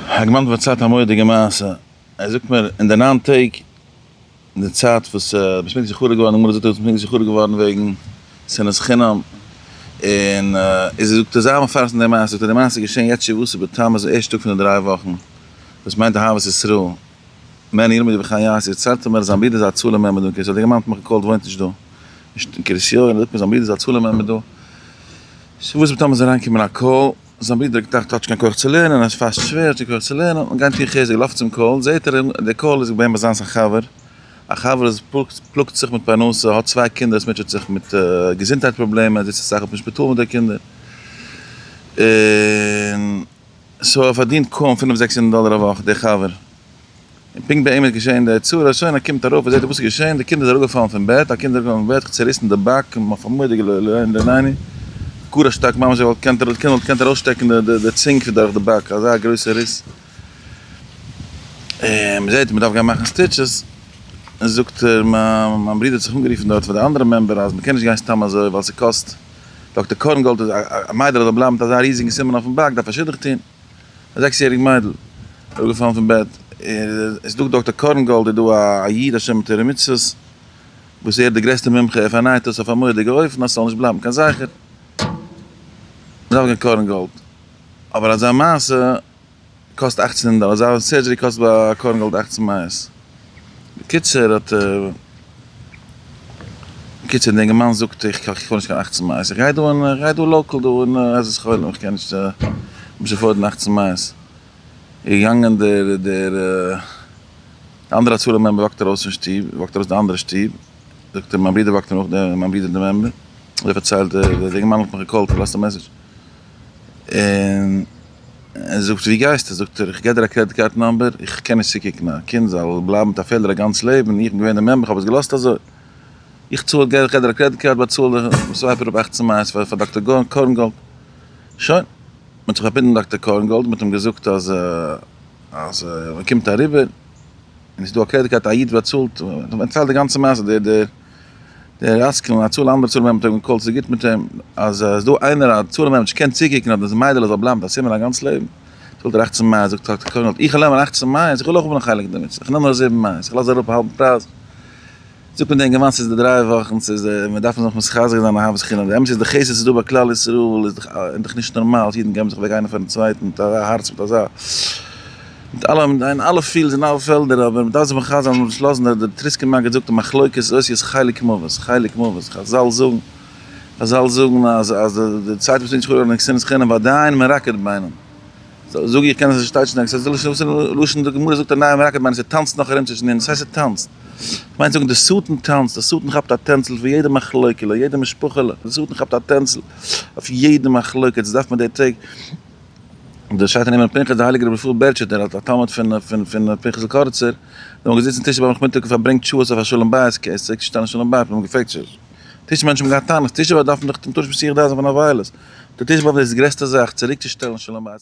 כ'האב געמיינט פארציילט א מורא'דיגע מעשה, ער זאגט מיר אין די נײַן טעג אין די צייט וואס ביסט נישט זכור געווארן, די גמרא זאגט אז ביסט נישט זכור געווארן וועגן שנאת חינם, און איז ער זאגט ער זאל מפרסם די מעשה, זאגט ער די מעשה איז געשען יעצט שבעה עשר בתמוז די ערשטע טאג פון די דריי וואכן, דאס מיינט אהבת ישראל, מען ילמד ובכן יעשה, ציילט ער מיר אז זיין ברודער זצ ל מעמד און כסדר געמאן פמח קהלת וואוינט נישט דא, נישט אין קרית יואל, ער זאגט מיר זיין ברודער זצ ל מעמד דא, שבעה עשר בתמוז איז אריין געקומען א קאל. זיין ברודער האט געטראכט ער האט נישט קיין כח צו לערנען, עס פאסט שווער, ער האט נישט קיין כח צו לערנען, האט מען געהאט איר חוזק, לויפט צום קהל, זעהט ער די קהל איז געווען ביי זיינס א חבר, א חבר וואס פלאגט זיך מיט פרנסה, האט צוויי קינדער, עס מוטשעט זיך מיט געזונטהייט פראבלעמען, זיצט אסאך אויפן שפיטאל מיט די קינדער, און סאו ער פארדינט קוים פינף זעקס הונדערט דאלער א וואך, דער חבר. און פונקט ביי אים איז געשען דער יצא הראשון, ער קומט ארויף, ער זעט וואס איז געשען, די קינד איז אראפגעפאלן פון בעט, א קינד איז אראפגעפאלן פון בעט, צוריסן די באק, און אויף אמאל האט די געלויבט לענ ד לעני, גאר א שטארק ממש ווי די קינד וואלט געקענט ארויסשטעקן די צונג פון דורך די באק, אזא גרויסע ריס, און מען זעט מען דארף גיין מאכן סטיטשעס, און זאגט ער מיין ברודער האט זיך אנגערופן דארט פאר די אנדערע מעמבער אז מען קען נישט גיין סתם אזוי ווייל ס'קאסט, דאקטער קארנגאלד איז א מיידער אזוי בלייבן מיט אזא ריזיגן סימן אויפן באק דארף ער שידוך טון. א זעקס יעריג מיידל אראפ געפאלן פון בעט, עס דא דאקטער קארנגאלד איז דא א איד א שומר תורה מצוות וואס ער איז די גרעסטע מומחה ער פארנייט עס אויף א מורא'דיגע אופן אז ס'זאל נישט בלייבן קיין זכר, מ'דארף גיין קארנגאלד, אבער אזא מעשה קאסט אכצן הונדערט דאלער, אזא סערדזשערי קאסט ביי קארנגאלד אכצן מאות, בקיצור האט. בקיצור, די אינגערמאן זאגט איך קאך געהאר נישט קיין אכצן מייעס, איך גיי דא אין, איך גיי דא לאקעל דא אין עזרת חולים, איך קען נישט נישט עפארדן אכצן מייעס, איז געגאנגען דער דער די אנדערע הצלה מעמבער וואקט ארויס פון שטוב, וואקט ארויס די אנדערע שטוב, זאגט אים מיין ברודער וואקט מיר נאך, מיין ברודער די מעמבער, אזוי פארציילט דער אינגערמאן האט מיך געקאלט, פארלאזט א מעסעדזש, און. ער זאגט ווי גייסטו? זאגט ער איך גיב דיר א קרעדיט קארד נאמבער, איך קען נישט צוקוקן א קינד זאל בלייבן מיט א פעלער א גאנץ לעבן, איך בין געווען דער מעמבער איך האב עס געלאזט אזוי, איך צאל גיב איך דיר א קרעדיט קארד באצאל די סווייפער אויף אַכצן מייעס פאר פאר דאקטער קארנגאלד, שוין, מען האט זיך פארבינדן מיט דאקטער קארנגאלד, מען האט אים געזאגט אז אז מען קומט אריבער און עס איז דא א קרעדיט קארד א איד באצאלט, מען האט אים פארציילט די גאנצע מעשה דער דער. דער עסקן און א צאל אנדערע צלם עמטער האבן קאלט צו גוט מיט אים אז עס איז דא איינער א צלם אמת קען צוקוקן אז דאס מיידעלע זאל בלייבן ביי סימען א גאנץ לעבן צאלט ער אַכצן מאות זאגט האט קארנעל איך וויל נעמען אַכצן מאות איך וויל אויך האבן א חלק דערמיט איך נעם נאר זיבן מאות איך לאז אראפ א האלבן פרייז זאגט מען דעם גמ' ס'איז די דריי וואכן ס'איז די מען דארף זיך מחזק זיין אהבת חינם די אמת איז די חסד ס'איז דא ביי כלל ישראל איז דאך איז דאך נישט נארמאל אז אידן געבן זיך אוועק איינער פארן צווייטן מיט אזא הארץ מיט אזא. מיט אלע עמדות אין אלע פילדס אין אלע פעלדער אבער מ'דארף זיך מחזק זיין מ'זאל נישט לאזן דער דער טריסקער מגיד זאגט א מחלוקת איז אויס איז חלק מוות חלק מוות חזל זאגן חזל זאגן אז אז די צייט וואס מ'טוט נישט אן עקסטערנעס חינם ביי דיין מ'ראקעט ביינעם זאג איך קען עס נישט טייטשן עקסטער זאל איך שוין וויסן לשון די גמרא זאגט א נייער מ'ראקעט ביינעם ס'טאנצט נאך ארום צווישן אונז ס'הייסט ס'טאנצט כ'מיין צו זאגן די שטן טאנצט די שטן כאפט א טענצל פון יעדע מחלוקה'לע יעדע משפחה'לע די שטן כאפט א טענצל אויף יעדע מחלוקת דאס דארף מען די טעג דער שייטער נאמען פנחס דער הייליגער רבי ישראל בערטשעטער אלס א תלמיד פון פון פון פנחס'ל קארצער זיי האבן געזיצן טישע ביים נאכמיטאג און פארברענגט שעות אויף א שלום בית כעסק צושטעלן שלום בית מ'האט אים געפרעגט ש ס טישע מענטשן האבן געהאט טענות טישע באדארפן דאך טון תורה שבשיח ד זיין פון א וויילעס דער טישע באדארף דאס גרעסטע זאך צוריקצושטעלן שלום בית.